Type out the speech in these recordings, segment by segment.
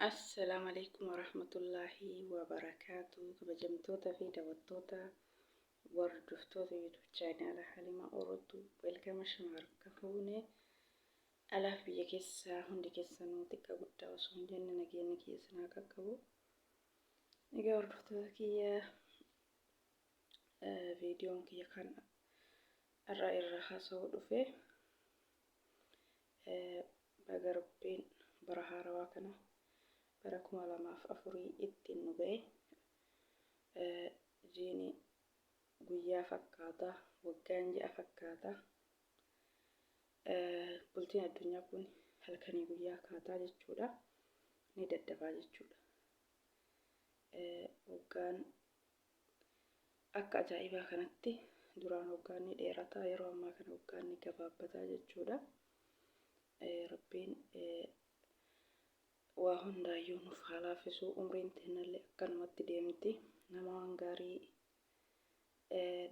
Assalaamu alaikum warahmatullaahi wabarakaatu kabajamtoota fi daawwattoota hordoftoota yuutuub chaanaala Halima Orotu welkama shamaar kafuune alaaf biyya keessaa hundi keessanuu xiqqaa guddaa osoo hin jenne nageenya keessan haa qaqqabu. Egaa hordoftoota kiyya viidiyoon kiyya kan irra irra haasa'uu dhufe baga rabbiin bara haarawaa kana bara kuma lamaaf afurii ittiin nu ga'e jiini guyyaa fakkaata waggaan ji'a fakkaata bultiin addunyaa kun halkanii guyyaa kaataa jechuudha ni daddabaa jechuudha waggaan Akka ajaa'ibaa kanatti duraan waggaan ni dheerataa yeroo ammaa kana waggaan ni gabaabbataa jechuudha. Rabbiin waa hundaayyuu nuuf haa laafisu umriin teennallee akkanumatti deemti nama waan gaarii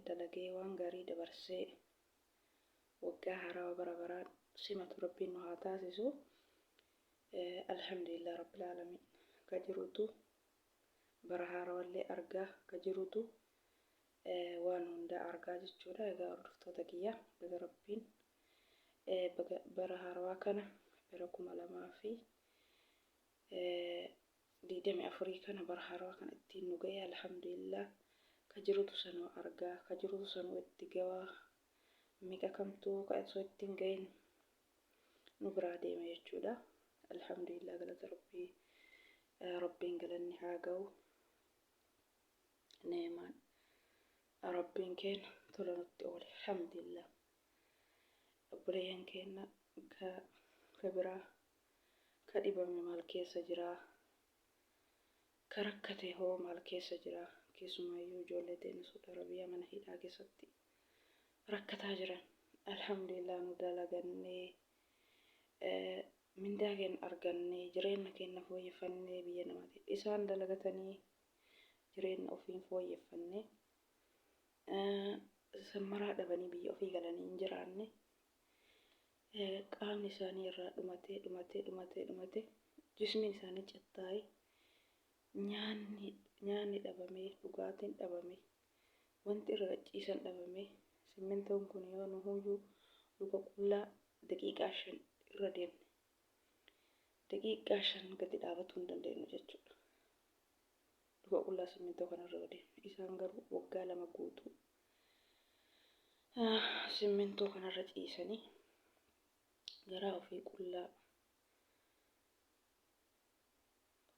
dalagee waan gaarii dabarsee waggaa haarawaa bara baraan simatu rabbiin nu haa taasisu. Alhamdulillah rabbil aalamiin ka jirutu bara haarawallee argaa ka jirutu waan hundaa argaa jechuudha egaa hordoftoota kiyya baga rabbiin bara haarawaa kana bara kuma lamaa fi digdamii afurii kana bara haarawaa kana ittiin nu ga'e alhamdulillah ka jirutu sanuu argaa ka jirutu sanuu itti gawaa miqa kamtuu ka osoo ittiin ga'in nu biraa deeme jechuudha. Alhamdulillah galata rabbii rabbiin galanni haa ga'u. Neemaan rabbiin keenya tola nutti oole alhamdulillah. Obboleeyyan keenya ka ka biraa ka dhibame maal keessa jira? Ka rakkate hoo maal keessa jira? Keessumaayyuu ijoollee teenya Suudi Arabiyaa mana hidhaa keessatti rakkataa jiran alhamdulillah nu dalagannee mindaa keenya argannee jireenya keenya fooyyeffannee biyya namati isaan dalagatanii jireenya ofii hin fooyyeffannee sammaraa dhabanii biyya ofii galanii hin jiraanne qaamni isaanii irraa dhumatee dhumatee dhumatee dhumatee jismiin isaanii cattaa'ee nyaanni nyaanni dhabamee dhugaatiin dhabamee Wanti irra gadhiisan dhabamee simmintoon kun yoo nuhuyyuu luka qullaa daqiiqaa shan irra deemne daqiiqaa shan gadi dhaabatuu hin dandeenyu jechuudha. Luka qullaa simmintoo kana irra yoo deemne isaan garuu waggaa lama guutuu ah, simmintoo kanarra ciisanii garaa ofii qullaa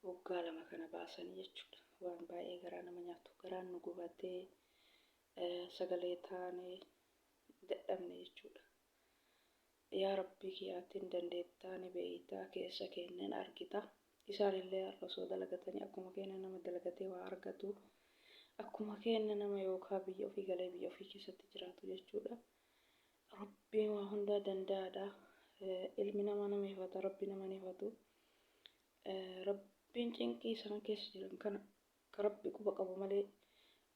Waggaa lama kana baasanii jechuudha. Waan baay'ee garaa nama nyaatu. Garaan nu gubatee sagalee taanee dadhabne jechuudha. Yaa Rabbii kiyya ati hin dandeettaa ni beeytaa keessa keenya hin argita. Isaan illee har'a osoo dalagatanii akkuma keenya nama dalagatee waa argatu. Akkuma keenya nama yookaan biyya ofii galee biyya ofii keessatti jiraatu jechuudha. Rabbiin waa hundaa danda'aadha. Ilmi namaa nama hifata, Rabbi nama hin hifatu. Rabbiin cinqii isaan keessa jiran kana ka Rabbi quba qabu malee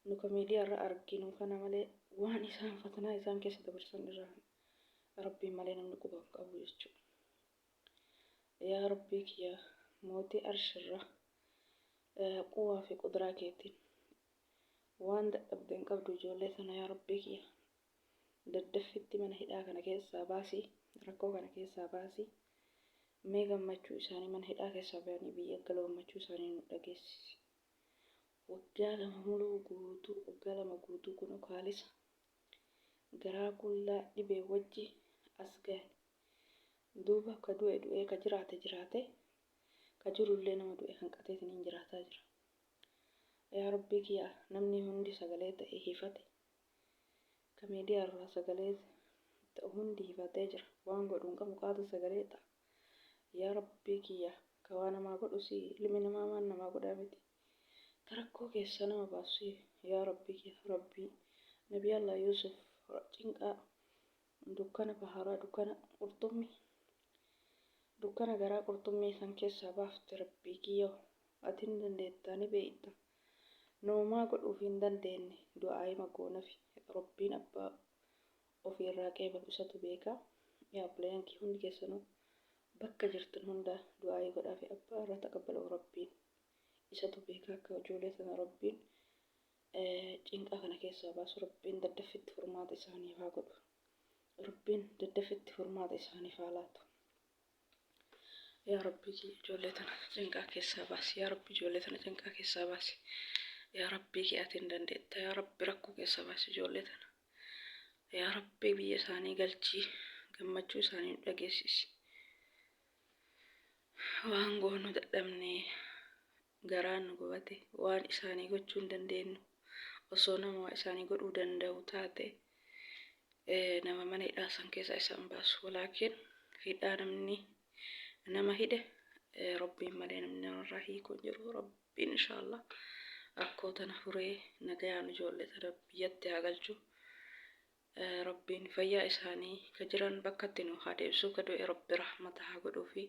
nu ka miidiyaa irra arginu kana malee waan isaan fatanaa isaan keessa dabarsan irraa Rabbiin malee namni quba hin qabu jechuudha. Yaa Rabbii kiyya mootii arshirra quwaa fi qudraa keetiin waan dadhabde hin qabdu ijoollee sana yaa Rabbii kiyya daddaffitti mana hidhaa kana keessaa baasi rakkoo kana keessaa baasi mee gammachuu isaanii mana hidhaa keessaa bahanii biyya gala gammachuu isaanii nu dhageessisi waggaa lama muluu guutuu waggaa lama guutuu kun kaalisa garaa qullaa dhibee wajji as gahe duuba ka du'e du'ee ka jiraate jiraate ka jirullee nama du'e kan qateetiniin jiraataa jira yaa rabbii kiyyaa namni hundi sagalee ta'e hifate Ka media irraa sagalee ta'u hundi hifatee jira. Waan godhu hin qabu qaatu sagalee ta'a. Yaa Rabbii kiyya ka waa namaa godhu si'i. Ilmi namaa waan namaa godhaa miti. Ka rakkoo keessaa nama baasu si'i. Yaa Rabbii kiyya Rabbii Nabii Allah Yuusuf cinqaa dukkana baharaa dukkana qurxummi dukkana garaa qurxummii san keessaa baafte Rabbii kiyya ati ni dandeettaa ni beeyta. nu homaa godhuufi hin dandeenne du'aa'ima goonafi Rabbiin abbaa ofii irraa qeebalu isatu beeka yaa obboleeyyan kiyya hundi keessanuu bakka jirtan hunda du'aa'ii godhaafi abbaa irraa taqabbalu Rabbiin isatu beeka akka ijoolee tana Rabbiin cinqaa kana keessaa baasu Rabbiin daddaffitti furmaata isaaniif haa godhu Rabbiin daddaffitti furmaata isaaniif haa laatu. Yaa Rabbi ijoollee tana cinqaa keessaa baasi. Yaa Rabbi ijoollee tana cinqaa keessaa baasi. Yaa Rabbi kee ati hin dandeetta. Yaa Rabbi rakkoo keessaa baasi ijoollee tana. Yaa Rabbi biyya isaanii galchii gammachuu isaanii nu dhageessisi. Waan goonu dadhabnee garaan nu gubate waan isaanii gochuu hin dandeenyu osoo nama waa isaanii godhuu danda'u taate nama mana hidhaa san keessaa isaan baasu walaakiin hidhaa namni nama hidhe rabbiin malee namni namarraa hiikuu hin jiru rabbiin inshaallah rakkoo tana furee nagayaan ijoollee tana biyyatti haa galchu Rabbiin fayyaa isaanii ka jiran bakkatti nuu haa deebisuu ka du'e Rabbi rahmata haa godhuufi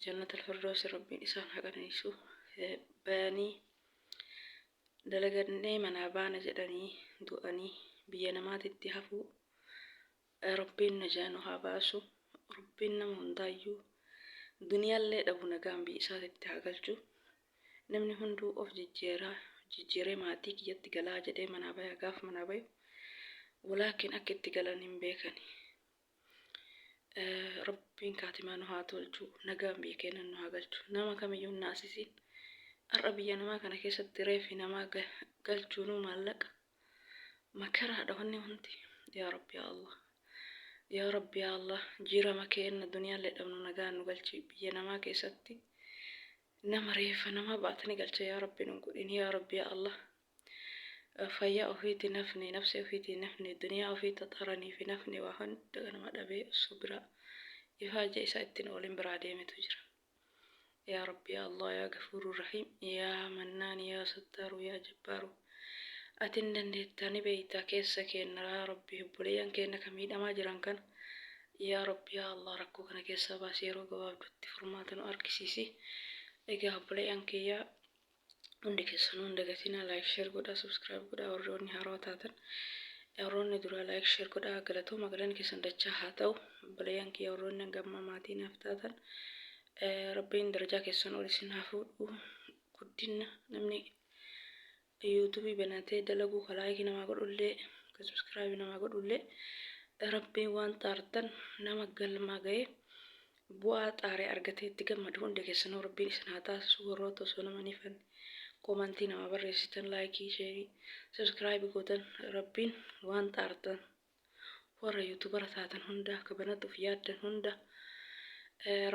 jannatal firdoosi Rabbiin isaan haa qananiisu bayanii dalagannee manaa baana jedhanii du'anii biyya namaatitti hafuu Yaa rabbiin najaa nu haa baasu rabbiin nama hundaayyuu duniyaallee dhabu nagaan biyya isaati itti haa galchu namni hunduu of jijjiiraa jijjiiree maatii kiyyatti galaa jedhee manaa baya gaaf manaa bayu walaakin akka itti galan hin beekani rabbiin kaatimaa nu haa tolchu nagaan biyya keenya nu haa galchu nama kamiyyuu hin naasisiin har'a biyya namaa kana keessatti reefi namaa galchuunuu maallaqa makaraadha wanni hundi yaa rabbi yaa allah yaa rabbi yaa allah jiirama keenna duniyaallee dhabnu nagaan nu galchi biyya namaa keessatti nama reeffa namaa baatanii galcha yaa rabbi nu godhin yaa rabbi yaa allah fayyaa ofiiti nafni nafsi ofiiti nafni duniyaa ofii taxaranii fi nafni waa hunda nama dhabee osoo biraa ifaajee isaa ittiin oolin biraa deemetu jira yaa rabbi yaa allah yaa gafuuru rahiim yaa mannaan yaa sattaaru yaa jabbaaru ati hin dandeettaa ni beeytaa keessa keenna yaa rabbi obboleeyyan keenna ka miidhamaa jiran kana yaa rabbi yaa allah rakkoo kana keessaa baasi yeroo gabaabdutti furmaata nu argisiisi egaa obboleeyyan kiyyaa hundi keessanuu hin dagatinaa laayik sheer godhaa subscribe godhaa warri warri haarawa taatan warroonni duraa laayik sheer godhaa galatooma galanni keessan dachaa haa ta'u obboleeyyan kiyya warroonni hanga ammaa maatii naaf taatan eh, rabbiin darajaa keessan ol isin haa fuudhu guddinna namni yuutuubii banatee dalaguu ka laayikii namaa godhullee ka subscribe namaa godhullee rabbiin waan xaartan nama galmaa ga'ee Bu'aa xaaree argatee itti gammadu hunda keessanuu rabbiin isin haa taasisu warroota osoo nama hin hifanne komantii namaa barreessitan laayikii sheerii sabskraayibi gootan rabbiin waan xaartan warra yuutubara taatan hunda akka banatuuf yaaddan hunda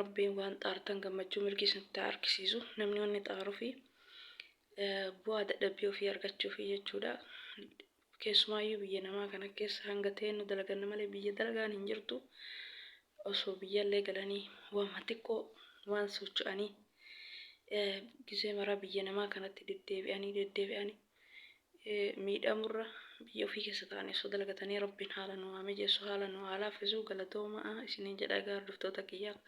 rabbiin waan xaartan gammachuu milkii isinitti haa argisiisu namni wanni xaarufi bu'aa dadhabbii ofii argachuufi jechuudha Keessumaayyuu biyya namaa kana keessa hanga teennu dalaganna malee biyya dalagaan hin jirtu. Osoo biyyallee galanii waanuma xiqqoo waan socho'anii gizee maraa biyya namaa kanatti deddeebi'anii deddeebi'anii miidhamurra biyya ofii keessa taa'anii osoo dalagatanii rabbiin haala nu haa mijeessu haala nu haa laaffisu galatoomaa isiniin jedha egaa hordoftoota kiyyaa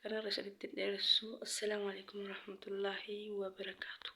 kanarra isinitti hin dheeressu. Assalaamu alaikum warahmatullaahi wabarakaatuh.